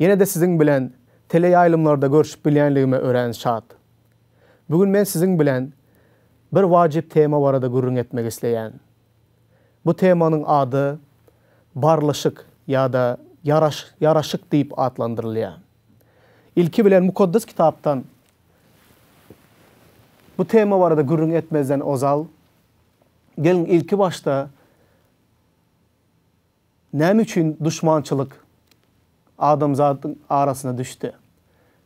Ýene-de siziň bilen teleýaýlymlarda görşüp bilýänligime örän şat. Bu gün men siziň bilen bir wajyp tema barada gürrüň etmek isleýän. Bu temanyň ady Barlyşyk ýa-da Ýaraş ýaraşyk diýip atlandyrylýar. Ilki bilen Mukaddes Kitapdan bu tema barada gürrüň etmezden ozal, geliň ilki başda Näme üçin duşmançylyk adamzadyň arasyna düşdi?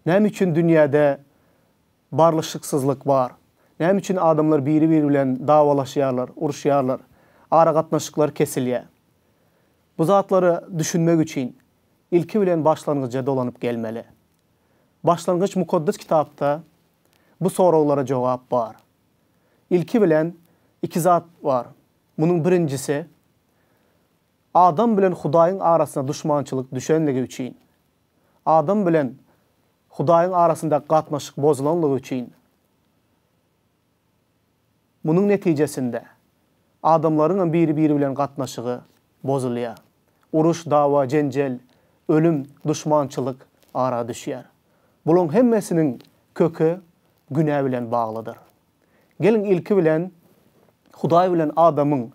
Näme üçin dünýäde barlyşyksyzlyk bar? Näme üçin adamlar biri-biri bilen dawalaşýarlar, uruşýarlar, aragatnaşyklar kesilýär? Bu zatlara düşünmek üçin, ilki bilen başlangyja dolanyp gelmeli. Başlangyç Mukaddes Kitapda bu soraglara jogap bar. Ilki bilen iki zat bar. Munuň birinjisi, adam bilen Hudaýyň arasyna duşmançylyk düşenligi üçin, adam bilen Hudaýyň arasyndaky gatnaşyk bozulanlygy üçin, munuň netijesinde, adamlaryňam biri-biri bilen gatnaşygy bozulýar. Uruş, dawa, jenjel, ölüm, duşmançylyk ara düşýär. Bulaň hemmesiniň köki günä bilen baglydyr. Geliň ilki bilen Hudaý bilen adamyň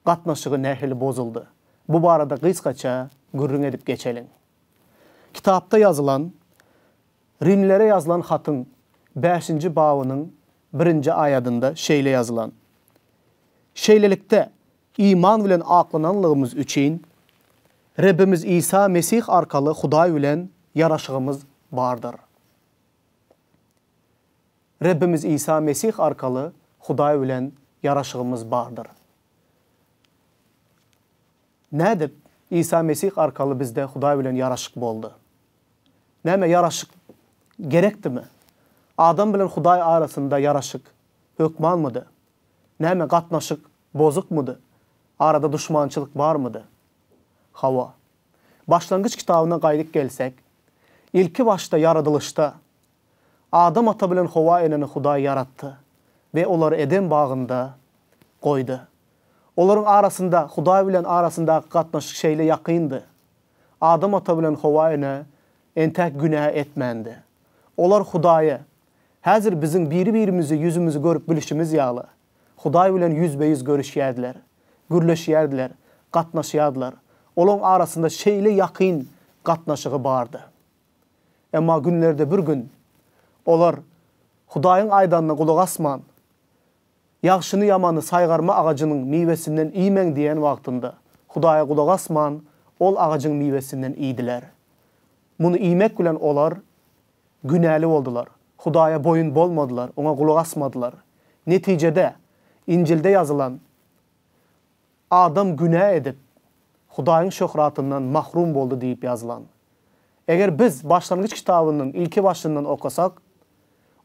gatnaşygy nähili bozuldy? Bu barada gysgaça gürrüň edip geçeliň. Kitapda ýazylan Rimlere ýazylan hatyň bäşinji babynyň birinji aýadynda şeýle ýazylan, Şeýlelikde, iman bilen aklananlygymyz üçin, Rebbimiz Isa Mesih arkaly Hudaý bilen ýaraşygymyz bardyr. Rebbimiz Isa Mesih arkaly Hudaý bilen ýaraşygymyz bardyr. Nädip Isa Mesih arkaly bizde Hudaý bilen ýaraşyk boldy? Näme ýaraşyk gerekdimi? Adam bilen Hudaý arasynda ýaraşyk hökmanmydy? Näme gatnaşyk bozukmydy? Arada duşmançylyk barmydy? Hawa. Başlangyç kitabyna gaýdyp gelsek, ilkibaşda ýaradylyşda Adam ata bilen Howa eneni Hudaý ýaratdy we olary Eden bagynda goýdy. Olaryň arasynda, Hudaý bilen arasyndaky gatnaşyk şeýle ýakyndy. Adam ata bilen Howa ene entek günä etmändi. Olar Hudaýa, häzir biziň biri-birimizi ýüzümizi görüp bilişimiz ýaly, Hudaý bilen ýüzbe-ýüz görüşýärdiler, gürleşýärdiler, gatnaşýardylar. Olaryň arasynda şeýle ýakyn gatnaşygy bardy. Emma günlerde bir gün olar Hudaýyň aýdanyna gulak asman, Ýagşyny-ýamany saýgarma agajynyň miwesinden iýmäň diýen wagtynda, Hudaýa gulak asman, ol agajyň miwesinden iýdiler. Muny iýmek bilen olar günäli boldular, Hudaýa boýun bolmadylar, Oňa gulak asmadylar. Netijede, Injilde ýazylan Adam günä edip, Hudaýyň şöhratyndan mahrum boldy diýip ýazylan. Eger biz Başlangyç kitabynyň ilki başyndan okasak,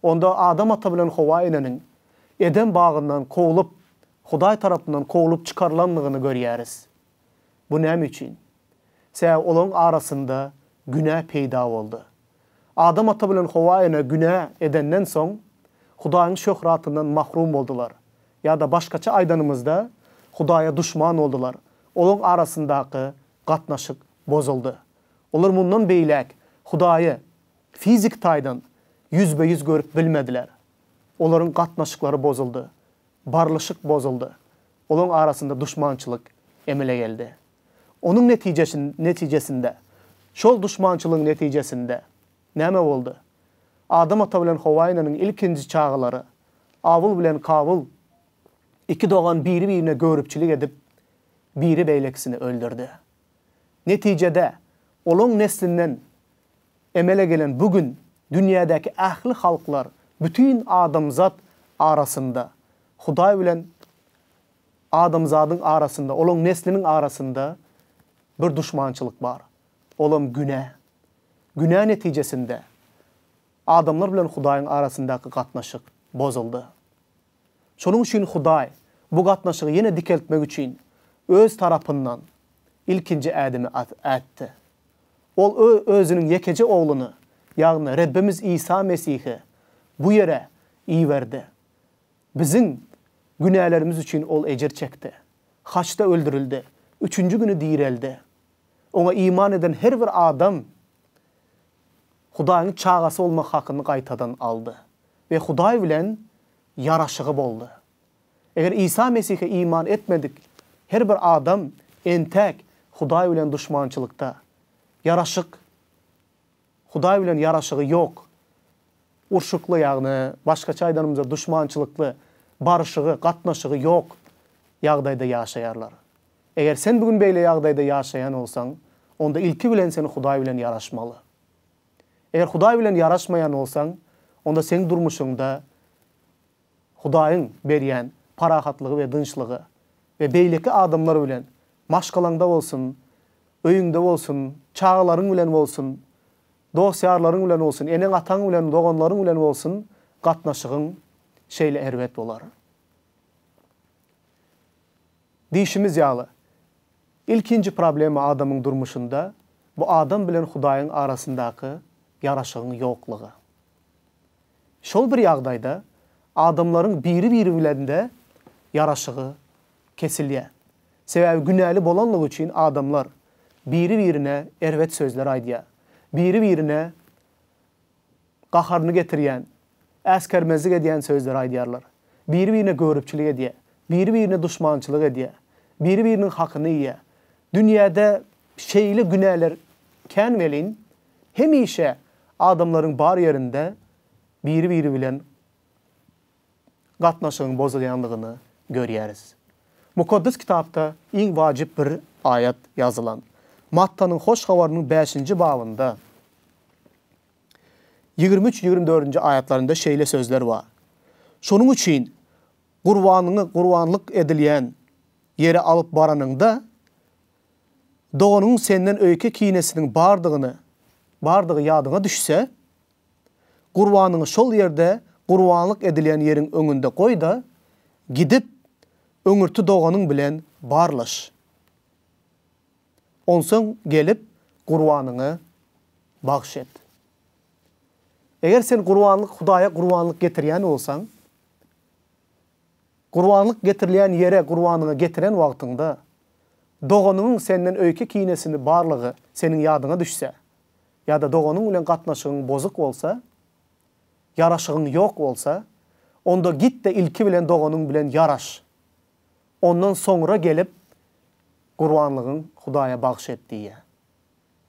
onda Adam ata bilen Howa eneniň Eden bagyndan kowlup, Hudaý tarapyndan kowlup çykarylandygyny görýäris. Bu näme üçin? Tä olaryň arasynda günä peýda boldy. Adam ata bilen Howa ene günä edenden soň, Hudaýyň şöhratyndan mahrum boldular. Ýa-da başgaça aýdanymyzda, Hudaýa duşman boldular. Olaryň arasyndaky gatnaşyk bozuldy. Olar mundan beýläk Hudaýy fiziki taýdan ýüzbe-ýüz görüp bilmediler. Olaryň gatnaşyklary bozuldy. Barlyşyk bozuldy. Olaryň arasynda duşmançylyk emele geldi. Onuň netijesinde, şol duşmançylygyň netijesinde näme boldy? Adam ata bilen Howa eneniň ilkinji çagalary, Awul bilen Kawul, iki dogan biri-birine göripçilik edip, biri beýlekisini öldürdi. Netijede, olaň neslinden emele gelen bu gün dünýädäki ähli halklar, bütin adamzat arasynda Hudaý bilen Adamzadyň arasynda, olaň nesliniň arasynda bir duşmançylyk bar. Olam günä. Günä netijesinde adamlar bilen Hudaýyň arasyndaky gatnaşyk bozuldy. Şonuň üçin Hudaý bu gatnaşygy ýene dikeltmek üçin Öz tarapyndan ilkinji ädimi ätdi. Ol Özüniň ýekeje Ogluny, ýagny Rebbimiz Isa Mesihi bu ýere iberdi. Biziň günälerimiz üçin Ol ejir çekdi. Haçda öldürildi. Üçünji güni direldi. Oňa iman eden her bir adam Hudaýyň çagasy bolmak hakyny gaýtadan aldy we Hudaý bilen ýaraşygy boldy. Eger Isa Mesihe iman etmedik her bir adam entäk Hudaý bilen duşmançylykda, ýaraşyk, Hudaý bilen ýaraşygy ýok, urşukly, ýagny başgaça aýdanymyzda duşmançylykly, baryşygy, gatnaşygy ýok ýagdaýda ýaşaýarlar. Eger sen bu gün beýle ýagdaýda ýaşaýan bolsaň, onda ilki bilen sen Hudaý bilen ýaraşmaly. Eger Hudaý bilen ýaraşmaýan bolsaň, onda seň durmuşyňda Hudaýyň berýän parahatlygy we dynçlygy we beýleki adamlar bilen Maşgalaňda bolsun, öýüňde bolsun, çagalaryň bilen bolsun, dost-ýarlaryň bilen bolsun, eneň-ataň bilen, doganlaryň bilen bolsun gatnaşygyň şeýle erbet bolar. Diýşimiz ýaly, ilkinji problema adamyň durmuşynda, bu adam bilen Hudaýyň arasyndaky ýaraşygyň ýoklugy. Şol bir ýagdaýda adamlaryň biri-biri bilen-de ýaraşygy kesilýär. Sebäbi günäli bolanlygy üçin adamlar biri-birine erbet sözler aýdýar. Biri-birine gaharyny getirýän, äsgermezlik edýän sözleri aýdýarlar. Biri-birine göripçilik edýär. Biri-birine duşmançylyk edýär. Biri-biriniň hakyny iýýär. Dünýäde şeýle günäler kän welin, hemişe adamlaryň bar ýerinde biri-biri bilen gatnaşygyň bozulýandygyny görýäris. Mukaddes Kitapda iň wajyp bir aýat ýazylan. Mattanyň Hoş Habarynyň bäşinji babynda ýigrimi üç, ýigrimi dördünji aýatlarynda şeýle sözler bar, Şonuň üçin gurbanyňy gurbanlyk edilýän ýere alyp baranyňda, doganyňyň senden öýke kinesiniň bardygyny bardygy ýadyňa düşse, Gurbanyňy şol ýerde gurbanlyk edilýän ýeriň öňünde goý-da, gidip, öňürti doganyň bilen barlaş. Onsoň gelip, gurbanyňy bagyş et. Eger sen gurbanlyk Hudaýa gurbanlyk getirýän bolsaň, gurbanlyk getirilýän ýere gurbanyňy getiren wagtyňda, doganyňyň senden öýke-kinesini barlygy seniň ýadyňa düşse, ýa-da doganyň bilen gatnaşygyň bozuk bolsa, ýaraşygyň ýok bolsa, onda git-de ilki bilen doganyň bilen ýaraş. Ondan soňra gelip, gurbanlygyň Hudaýa bagyş et diýýär.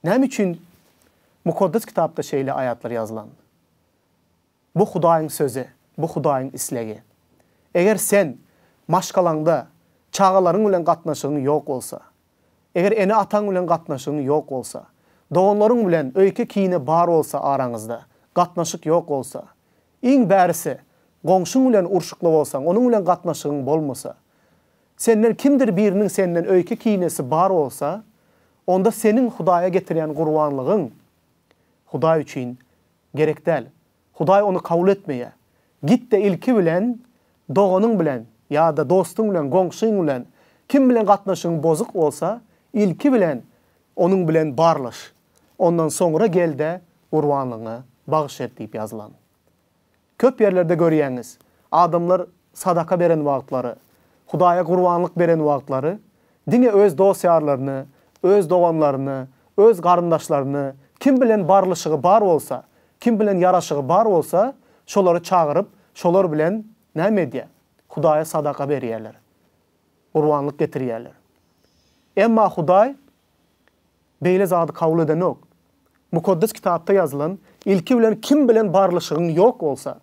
Näme üçin Mukaddes Kitapda şeýle aýatlar ýazylan? Bu Hudaýyň sözi, bu Hudaýyň islegi. Eger sen maşgalaňda, çagalaryň bilen gatnaşygyň ýok bolsa, Eger ene-ataň bilen gatnaşygyň ýok bolsa, doganlaryň bilen öýke kine bar bolsa araňyzda gatnaşyk ýok bolsa, iň bärisi goňşyň bilen urşukly bolsaň onuň bilen gatnaşygyň bolmasa, senden kimdir biriniň senden öýke kinesi bar bolsa, onda seniň Hudaýa getirýän gurbanlygyň Hudaý üçin gerek däl, Hudaý ony kabul etmeýär. Git-de ilki bilen doganyň bilen ýa-da dostuň bilen, goňşyň bilen, kim bilen gatnaşygyň bozuk bolsa, ilki bilen onuň bilen barlaş. Ondan soňra gel-de gurbanlygyňy bagyş et diýip ýazylan. Köp ýerlerde görýäňiz, adamlar sadaka beren wagtlary, Hudaýa gurbanlyk beren wagtlary diňe öz dost-ýarlaryny, öz doganlaryny, öz garyndaşlaryny, kim bilen barlyşygy bar bolsa, kim bilen ýaraşygy bar bolsa, şolary çagyryp, şolar bilen näme edýär? Hudaýa sadaka berýärler. Gurbanlyk getirýärler. Emma Hudaý beýle zady kabul edenok. Mukaddes Kitapda ýazylan, Ilki bilen kim bilen barlyşygyň ýok bolsa,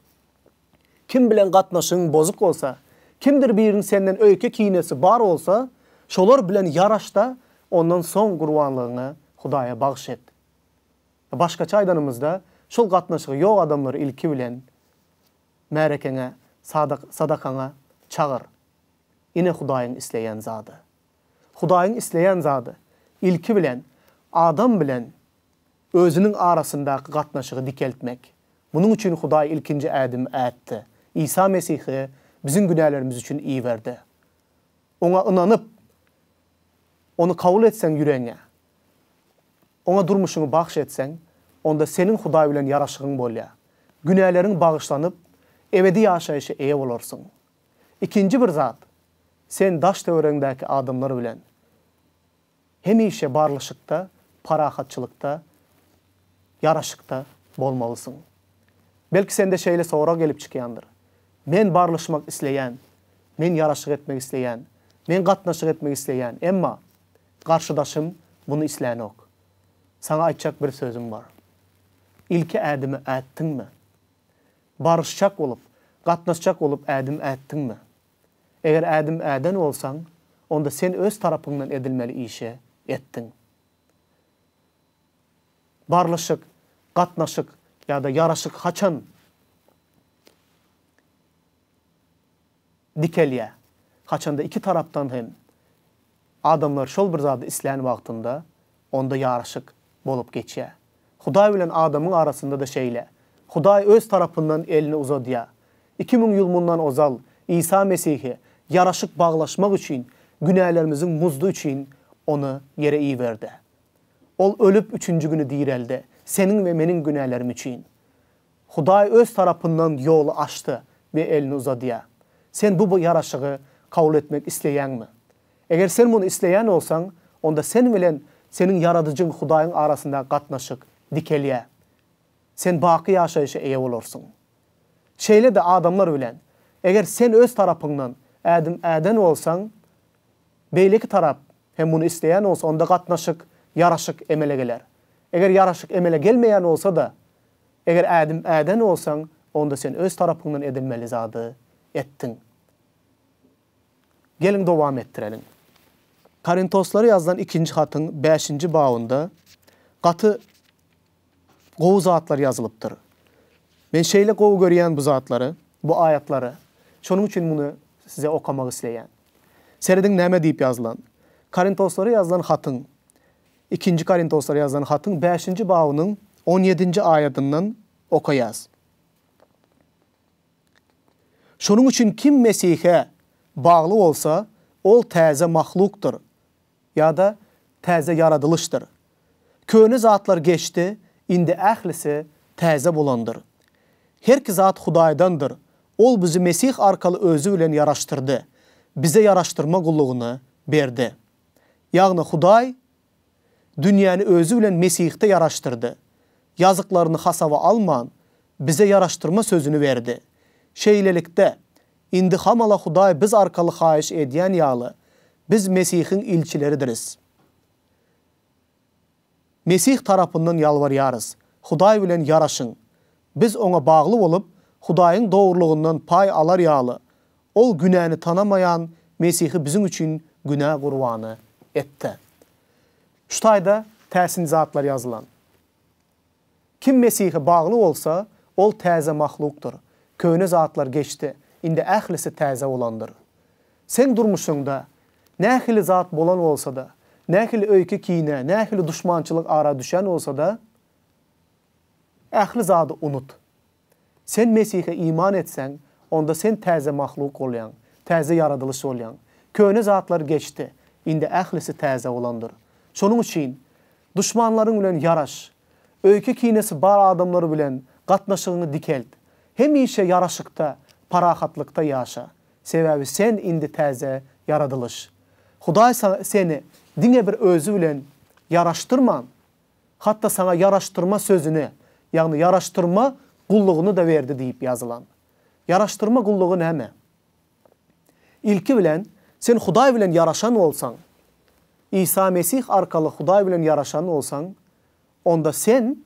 Kim bilen gatnaşygyň bozuk bolsa, kimdir biriniň senden öýke-kinesi bar bolsa, şolar bilen ýaraş-da, ondan soň gurbanlygyňy Hudaýa bagyş et. Ýa başgaça aýdanymyzda, şol gatnaşygy ýok adamlary ilki bilen märekeňe, sadakaňa çagyr. Ine Hudaýyň isleýän zady. Hudaýyň isleýän zady, ilki bilen, adam bilen Özüniň arasyndaky gatnaşygy dikeltmek. Munuň üçin Hudaý ilkinji ädimi ätdi, Isa Mesihi biziň günälerimiz üçin iberdi. Oňa ynanyp, Ony kabul etseň ýüregiňe, Oňa durmuşyňy bagş etseň, onda seniň Hudaý bilen ýaraşygyň bolýar. Günäleriň bagyşlanyp, ebedi ýaşaýşa eýe bolarsyň. Ikinji bir zat, sen daş-töweregiňdäki adamlar bilen Hemişe barlyşykda, parahatçylykda, ýaraşykda bolmalysyň. Belki sende şeýle sorag gelip çykýandyr, Men barlyşmak isleýän, men ýaraşyk etmek isleýän, men gatnaşyk etmek isleýän, emma garşydaşym muny islänok. Saňa aýtjak bir sözüm bar. Ilki ädimi ätdiňmi? Baryşjak bolup, gatnaşjak bolup ädim ätdiňmi? Eger ädim äden bolsaň, onda sen öz tarapyňdan edilmeli işe etdiň. Barlyşyk, gatnaşyk ýa-da ýaraşyk haçan dikelýär? Haçanda iki tarapdan hem Adamlar şol bir zady islän wagtynda, onda ýaraşyk bolup geçýär. Hudaý bilen adamyň arasynda-da şeýle. Hudaý Öz tarapyndan elini uzadýar. Iki müň ýyl mundan ozal Isa Mesihi ýaraşyk baglaşmak üçin günälerimiziň muzdy üçin Ony ýere iberdi. Ol ölüp, üçünji güni diräldi, seniň we meniň günälerim üçin. Hudaý Öz tarapyndan ýoly açdy we elini uzadýar. Sen bu ýaraşygy kabul etmek isleýäňmi? Eger sen muny isleýän bolsaň, onda sen bilen seniň Ýaradyjyň Hudaýyň arasyndaky gatnaşyk dikelýär. Sen baky ýaşaýşa eýe bolarsyň. Şeýle-de adamlar bilen, eger sen öz tarapyňdan ädim äden bolsaň, beýleki tarap hem muny isleýän bolsa, onda gatnaşyk, ýaraşyk emele geler. Eger ýaraşyk emele gelmeýän bolsa-da, Eger ädim äden bolsaň, onda sen öz tarapyňdan edilmeli zady etdiň. Geliň dowam etdireliň. Korintoslara ýazylan ikinji hatyň bäşinji babynda gaty gowy zatlar ýazylypdyr. Men şeýle gowy görýän bu zatlary, bu aýatlary, şonuň üçin muny size okamak isleýän. Serediň näme diýip ýazylan. Korintoslara ýazylan hatyň Ikinji Korintoslara ýazylan hatyň bäşinji babynyň on ýedinji aýadyndan okaýarys. Şonuň üçin kim Mesihe bagly bolsa, ol täze mahlukdyr ýa-da täze ýaradylyşdyr. Köne zatlar geçdi, indi ählisi täze bolandyr. Herki zat Hudaýdandyr, Ol bizi Mesih arkaly Özi bilen ýaraşdyrdy, bize ýaraşdyrma gullugyny berdi. Ýagny Hudaý dünýäni özi bilen Mesihde ýaraşdyrdy. Ýazyklaryny hasaba alman, bize ýaraşdyrma sözüni berdi. Şeýlelikde, indi hamala Hudaý biz arkaly haýyş edýän ýaly, biz Mesihiň ilçileridiris. Mesih tarapyndan ýalbarýarys, Hudaý bilen ýaraşyň! Biz Oňa bagly bolup, Hudaýyň dogrulygyndan paý alar ýaly, Ol günäni tanamaýan Mesihi biziň üçin günä gurbany etdi. Şu taýda täsin zatlar ýazylan. Kim Mesihe bagly bolsa, ol täze mahlukdyr, köne zatlar geçdi, indi ählisi täze bolandyr. Seň durmuşyňda nähili zat bolan bolsa-da, nähili öýke-kine, nähili duşmançylyk ara düşen bolsa-da, ähli zady unut. Sen Mesihe iman etseň, onda sen täze mahluk bolýaň, täze ýaradylyş bolýaň. Köne zatlar geçdi, indi ählisi täze bolandyr. Şonuň üçin, duşmanlaryň bilen ýaraş. Öýke-kinesi bar adamlar bilen gatnaşygyňy dikelt. Hemişe ýaraşykda, parahatlykda ýaşa. Sebäbi sen indi täze ýaradylyş. Hudaý seni diňe bir Özi bilen ýaraşdyrman, Hatda saňa ýaraşdyrma sözüni, ýagny ýaraşdyrma gullugyny-da berdi diýip ýazylan. Ýaraşdyrma gullugy näme? Ilki bilen, sen Hudaý bilen ýaraşan bolsaň, Isa Mesih arkaly Hudaý bilen ýaraşan bolsaň, onda sen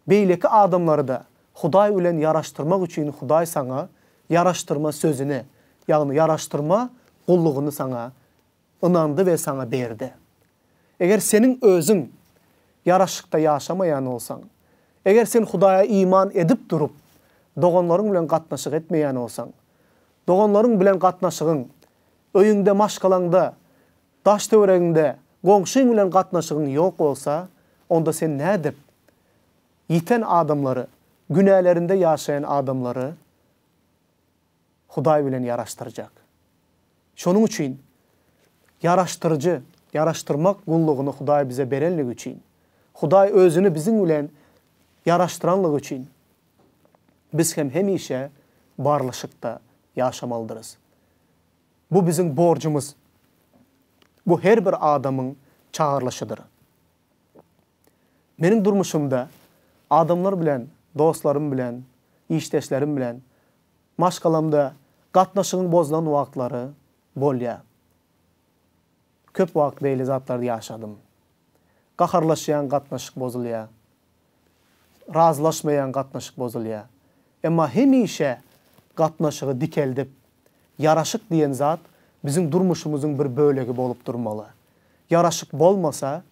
beýleki adamlary-da Hudaý bilen ýaraşdyrmak üçin Hudaý saňa ýaraşdyrma sözüni, ýagny ýaraşdyrma gullugyny saňa ynandy we saňa berdi. Eger seniň özüň ýaraşykda ýaşamaýan bolsaň, eger sen Hudaýa iman edip durup, doganlaryň bilen gatnaşyk etmeýän bolsaň, doganlaryň bilen gatnaşygyň, öýüňde, maşgalaňda, daş-töweregiňde goňşyň bilen gatnaşygyň ýok bolsa, onda sen nädip ýiten adamlary, günälerinde ýaşaýan adamlary, Hudaý bilen ýaraşdyrjak. Şonuň üçin ýaraşdyryjy, ýaraşdyrmak gullugyny Hudaý bize berenligi üçin, Hudaý Özüni biziň bilen ýaraşdyranlygy üçin biz hem hemişe barlyşykda ýaşamalydyrys. Bu biziň borjumyz. Bu her bir adamyň çagyrylyşydyr. Meniň durmuşymda adamlar bilen, dostlarym bilen, işdeşlerim bilen Maşgalamda gatnaşygyň bozulan wagtlary bolýar. Köp wagt beýle zatlary ýaşadym. Gaharlaşýaň gatnaşyk bozulýar. Razylaşmaýaň gatnaşyk bozulýar. Emma hemişe gatnaşygy dikeldip, ýaraşyk diýen zat biziň durmuşymyzyň bir bölegi bolup durmaly. Ýaraşyk bolmasa.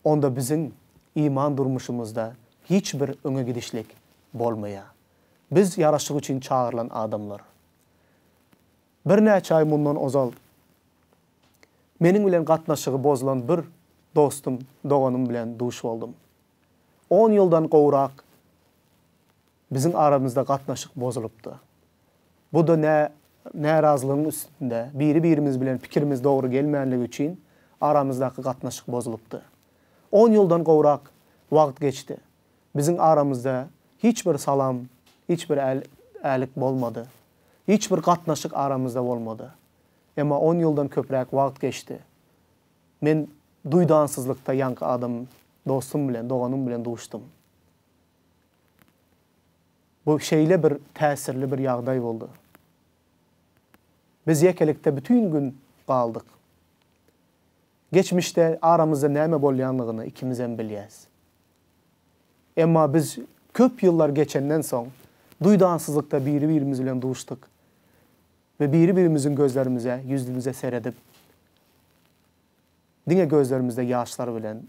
onda biziň iman durmuşymyzda hiç bir öňe gidişlik bolmaýar. Biz ýaraşyk üçin çagyrylan adamlar. Birnäçe aý mundan ozal meniň bilen gatnaşygy bozulan bir dostum, doganym bilen duş boldum. On ýyldan gowrak Biziň aramyzda gatnaşyk bozulypdy. Bu-da nä närazylygyň üstünde, biri-birimiz bilen pikirimiz dogry gelmänligi üçin aramyzdaky gatnaşyk bozulypdy. On ýyldan gowrak wagt geçdi. Biziň aramyzda hiç bir salam, hiç bir äl-älik bolmady. Hiç bir gatnaşyk aramyzda bolmady. Emma on ýyldan köpräk wagt geçdi. Men duýdansyzlykda ýaňky adam dostum bilen, doganym bilen duşdum. Bu şeýle bir täsirli bir ýagdaý boldy. Biz ýekelikde bütin gün galdyk. Geçmişde aramyzda näme bolýanlygyny ikimizem bilýäs. Emma biz köp ýyllar geçenden soň, duýdansyzlykda biri-birimiz bilen duşdyk we biri-birimiziň gözlerimize, ýüzümize seredip, diňe gözlerimizde ýaşlar bilen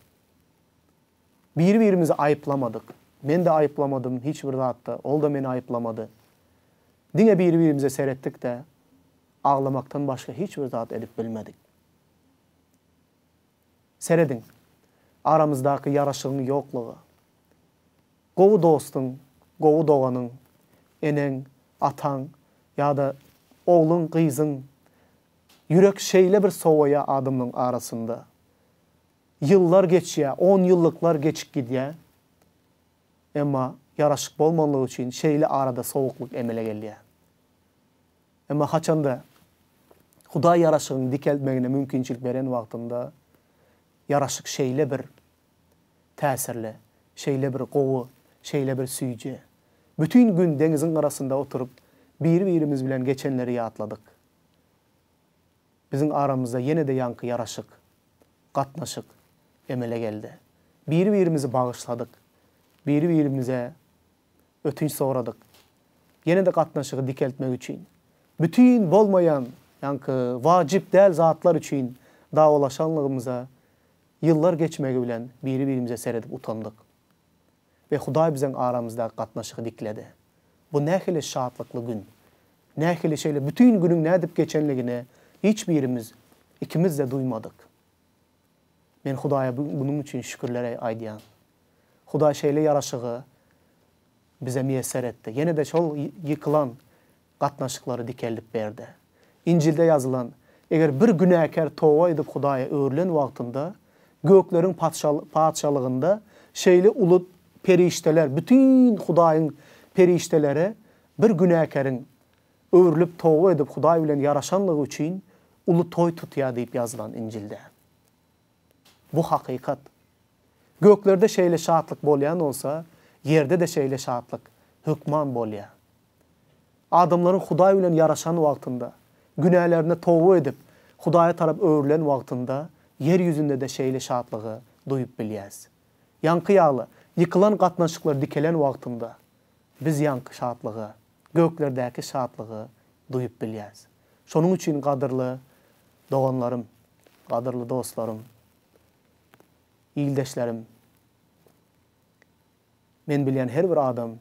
Biri-birimizi aýyplamadyk. Men-de aýyplamadym hiç bir zatda, ol-da meni aýyplamady. Diňe biri-birimize seretdik-de, aglamakdan başga hiç bir zat edip bilmedik. Serediň, aramyzdaky ýaraşygyň ýoklugy. Gowy dostuň, gowy doganyň, eneň, ataň ýa-da ogluň, gyzyň, ýürek şeýle bir sowaýa adamlaryň arasynda. Ýyllar geçýär, onýyllyklar geçip gidýär. Emma ýaraşyk bolmanlygy üçin şeýle arada sowuklyk emele gelýär. Emma haçanda Hudaý ýaraşygyň dikeltmegine mümkinçilik beren wagtynda ýaraşyk şeýle bir täsirli, şeýle bir gowy, şeýle bir süýji. Bütin gün deňiziň gyrasynda oturyp, biri-birimiz bilen geçenleri ýatladyk. Biziň aramyzda ýene-de ýaňky ýaraşyk, gatnaşyk emele geldi. Biri-birimizi bagyşladyk, biri-birimize ötünç soradyk. Ýene-de gatnaşygy dikeltmek üçin, bütin bolmaýan, ýaňky wajyp däl zatlar üçin dawalaşanlygymyza ýyllar geçmegi bilen biri-birimize seredip utandyk. we Hudaý biziň aramyzdaky gatnaşygy dikledi. Bu nähili şatlykly gün! Nähili şeýle bütin günüň nädip geçenligini hiç birimiz ikimiz-de duýmadyk. Men Hudaýa munuň üçin şükürler aýdýan. Hudaý şeýle ýaraşygy bize miýesser etdi. Ýene-de şol ýykylan gatnaşyklary dikeldip berdi. Injilde ýazylan, Eger bir günäkär toba edip Hudaýa öwrülen wagtynda, gökleriň Patyşalygynda şeýle uly perişdeler, bütin Hudaýyň perişdeleri bir günäkäriň öwrülip toba edip Hudaý bilen ýaraşanlygy üçin uly toý tutýar diýip ýazylan Injilde. Bu hakykat. Göklerde şeýle şatlyk bolýan bolsa, ýerde-de şeýle şatlyk hökman bolýar. Adamlaryň Hudaý bilen ýaraşan wagtynda, günälerine toba edip, Hudaýa tarap öwrülen wagtynda ýer ýüzünde-de şeýle şatlygy duýup bilýäs. Ýaňky ýaly, ýykylan gatnaşyklar dikelen wagtynda, biz ýaňky şatlygy, göklerdäki şatlygy duýup bilýäs. Şonuň üçin, gadyrly doganlarym, gadyrly dostlarym, ildeşlerim! Men bilýän her bir adam,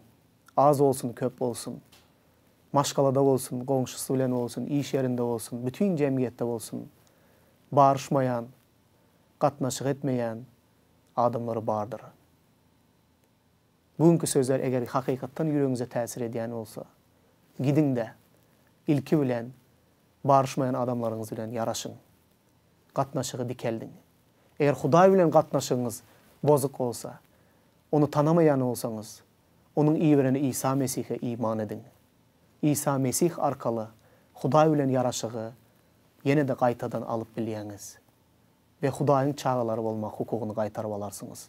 az bolsun, köp bolsun, maşgalada bolsun, goňşusy bilen bolsun, iş ýerinde bolsun, bütin jemgyýetde bolsun, baryşmaýan, gatnaşyk etmeýän adamlary bardyr. Bu günki sözler eger hakykatdan ýüregiňize täsir edýän bolsa, gidiň-de, ilki bilen, baryşmaýan adamlaryňyz bilen ýaraşyň. gatnaşygy dikeldiň. Eger Hudaý bilen gatnaşygyňyz bozuk bolsa, Ony tanamaýan bolsaňyz, Onuň iberen Isa Mesihe iman ediň. Isa Mesih arkaly Hudaý bilen ýaraşygy ýene-de gaýtadan alyp bilýäňiz we Hudaýyň çagalary bolmak hukugyny gaýtaryp alarsyňyz.